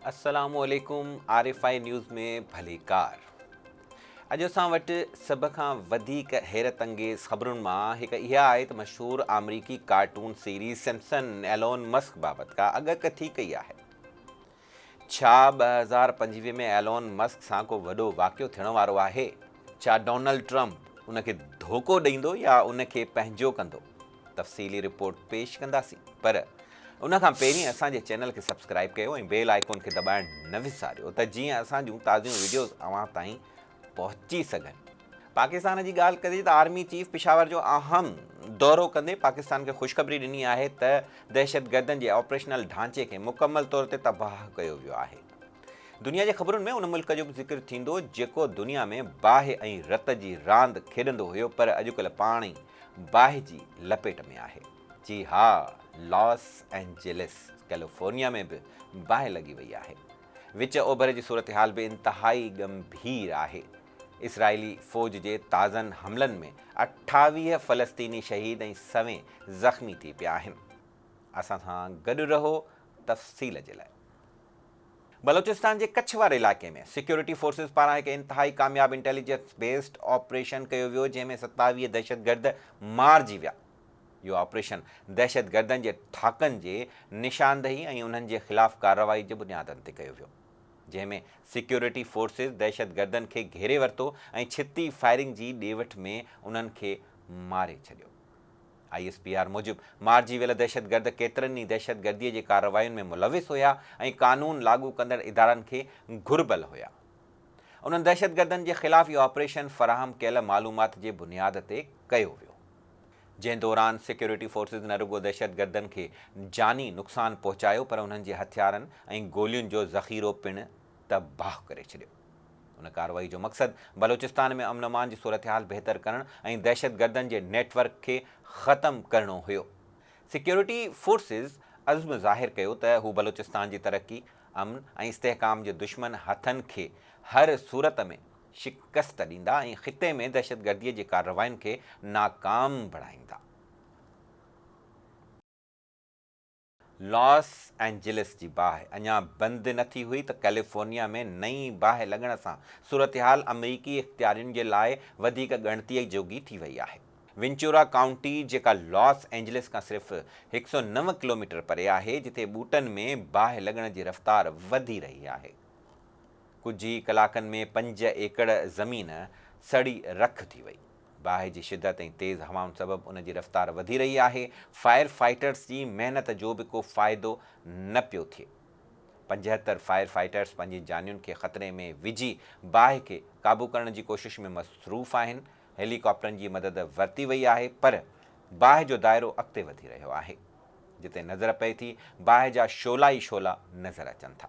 السلام عليڪم R F I news ۾ ڀليڪار اڄ اسان وٽ سڀ کان وڌيڪ حيرت انگيز خبرن مان هڪ اها آهي ته مشهور آمريڪي cartoon series Simpsons Elon Musk بابت ڪا اڳڪٿي ڪئي آهي ڇا ٻه هزار پنجويهه ۾ ايلون مسڪ سان ڪو وڏو واقعو ٿيڻ وارو آهي؟ ڇا ڊونلڊ ٽرمپ ان کي ڌوڪو ڏيندو يا ان کي پنهنجو ڪندو؟ تفصيلي رپورٽ پيش ڪنداسين پر ان کان پهرين اسان جي چينل کي سبسڪرائيب ڪيو ۽ بيل آئيڪون کي دٻائڻ نه وساريو ته جيئن اسان جون تازيون وڊيوز اوهان تائين پهچي سگهن. پاڪستان جي ڳالهه ڪجي ته آرمي چيف پشاور جو اهم دورو ڪندي پاڪستان کي خوشخبري ڏني آهي ته دهشتگردن جي آپريشنل ڍانچي کي مڪمل طور تي تباهه ڪيو ويو آهي. دنيا جي خبرن ۾ ان ملڪ جو به ذڪر ٿيندو جيڪو دنيا ۾ باهه ۽ رت جي راند کيڏندو هيو پر اڄڪلهه پاڻ ئي باهه جي لپيٽ ۾ آهي. جي ها لاس اينجلس ڪيليفورنيا ۾ به باهه لڳي وئي آهي. وچ اوڀر جي صورتحال به انتهائي ڳنڀير آهي. اسرائيلي فوج جي تازن حملن ۾ اٺاويهه فلسطيني شهيد ۽ سوين زخمي ٿي پيا آهن. اسان سان گڏ رهو تفصيل جي لاء. بلوچستان جي ڪڇ واري علائقي ۾ سيڪيورٽي فورسز پاران هڪ انتهائي ڪامياب انٽيليجنس بيسڊ آپريشن ڪيو ويو جنهن ۾ ستاويهه دهشتگرد مارجي ويا. اهو آپريشن دهشتگردن جي ٺاڪن جي نشاندهي ۽ انهن جي خلاف ڪارروائي جي بنيادن تي ڪيو ويو، جنهن ۾ سيڪيورٽي فورسز دهشتگردن کي گهيري ورتو ۽ ڇتي فائرنگ جي ڏي وٺ ۾ انهن کي ماري ڇڏيو. آء ايس پي آر موجب مارجي ويل دهشتگرد ڪيترن ئي دهشتگردي جي ڪاررواين ۾ ملوث هيا ۽ قانون لاڳو ڪندڙ ادارن کي گهربل هيا. انهن دهشتگردن جي خلاف اهو آپريشن فراهم ڪيل معلومات جي بنياد تي ڪيو ويو. جنهن دوران سيڪيورٽي فورسز نه رڳو دهشتگردن کي جاني نقصان پهچايو پر انهن جي هٿيارن ۽ گولين جو ذخيرو پڻ تباهه ڪري ڇڏيو. ان ڪارروائي جو مقصد بلوچستان ۾ امن امان جي صورتحال بهتر ڪرڻ ۽ دهشتگردن جي نيٽ ورڪ کي ختم ڪرڻو هيو. سيڪيورٽي فورسز عزم ظاهر ڪيو ته هو بلوچستان جي ترقي، امن ۽ استحڪام جي دشمن هٿن کي هر صورت ۾ شڪست ڏيندا ۽ خطي ۾ دهشتگردي جي ڪاررواين کي ناڪام بڻائيندا. لاس اينجلس جي باهه اڃا بند نه ٿي هئي ته ڪيليفورنيا ۾ نئين باهه لڳڻ سان صورتحال آمريڪي اختيارين جي لاء وڌيڪ ڳڻتيء جوڳي ٿي وئي آهي. وينچورا ڪائونٽي جيڪا لاس اينجلس کان صرف هڪ سؤ نو ڪلوميٽر پري آهي، جتي ٻوٽن ۾ باهه لڳڻ جي رفتار وڌي رهي آهي. ڪجهه ئي ڪلاڪن ۾ پنج ايڪڙ زمين سڙي رک ٿي وئي. باهه جي شدت ۽ تيز هوائن سبب ان جي رفتار وڌي رهي آهي، فائر فائٽرز جي محنت جو به ڪو فائدو نه پيو ٿئي. پنجهتر فائر فائٽرز پنهنجي جانين کي خطري ۾ وجهي باهه کي قابو ڪرڻ جي ڪوشش ۾ مصروف آهن، هيلي ڪاپٽرن جي مدد ورتي وئي آهي پر باهه جو دائرو اڳتي وڌي رهيو آهي. جتي نظر پئي ٿي باهه جا شعلا ئي شعلا نظر اچن ٿا.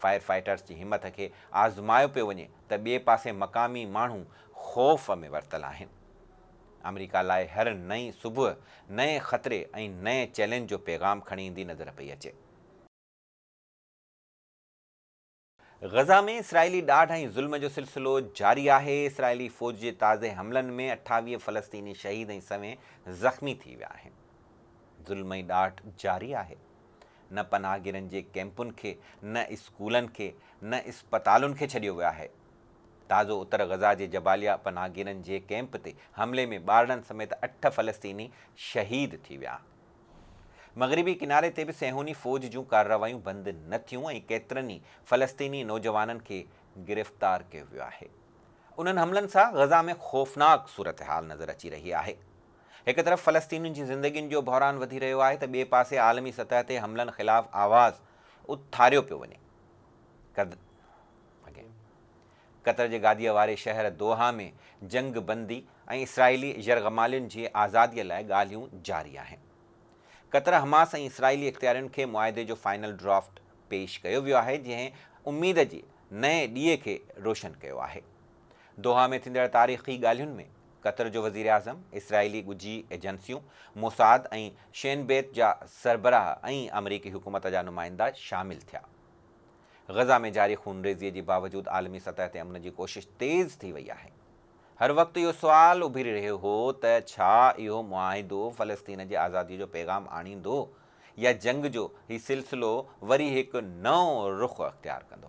فائر فائيٽرز جي همٿ کي آزمايو پيو وڃي ته ٻئي پاسي مقامي ماڻهو خوف ۾ ورتل آهن. آمريڪا لاء هر نئين صبح نئين خطري ۽ نئين چئلينج جو پيغام کڻي ايندي نظر پئي اچي. غزه ۾ اسرائيلي ڏاڍ ۽ ظلم جو سلسلو جاري آهي، اسرائيلي فوج جي تازي حملن ۾ اٺاويهه فلسطيني شهيد ۽ سوين زخمي ٿي ويا آهن. ظلم ۽ ڏاڍ جاري آهي. نه پناهگيرن جي ڪئمپن کي، نه اسڪولن کي، نه اسپتالن کي ڇڏيو ويو آهي. تازو اتر غزه جي جباليا پناهگيرن جي ڪئمپ تي حملي ۾ ٻارڙن سميت اٺ فلسطيني شهيد ٿي ويا. مغربي ڪناري تي به صهيوني فوج جون ڪارروايون بند نه ٿيون ۽ ڪيترن ئي فلسطيني نوجوانن کي گرفتار ڪيو ويو آهي. انهن حملن سان غزه ۾ خوفناڪ صورتحال نظر اچي رهي آهي. هڪ طرف فلسطينين جي زندگين جو بحران وڌي رهيو آهي ته ٻئي پاسي عالمي سطح تي حملن خلاف آواز اٿاريو پيو وڃي. قطر جي گاديء واري شهر دوحا ۾ جنگ بندي ۽ اسرائيلي يرغمالين جي آزاديء لاء ڳالهيون جاري آهن. قطر، حماس ۽ اسرائيلي اختيارين کي معاهدي جو فائنل ڊرافٽ پيش ڪيو ويو آهي جنهن اميد جي نئين ڏيئي کي روشن ڪيو آهي. دوحا ۾ ٿيندڙ تاريخي ڳالهين ۾ قطر جو وزيراعظم، اسرائيلي ڳجهي ايجنسيون، موساد ۽ شين بيت جا سربراهه ۽ آمريڪي حڪومت جا نمائندا شامل ٿيا. غزه ۾ جاري خونريزيء جي باوجود عالمي سطح تي امن جي ڪوشش تيز ٿي وئي آهي. هر وقت اهو سوال اڀري رهيو هو ته ڇا اهو معاهدو فلسطين جي آزاديء جو پيغام آڻيندو يا جنگ جو هي سلسلو وري هڪ نئون رخ اختيار ڪندو؟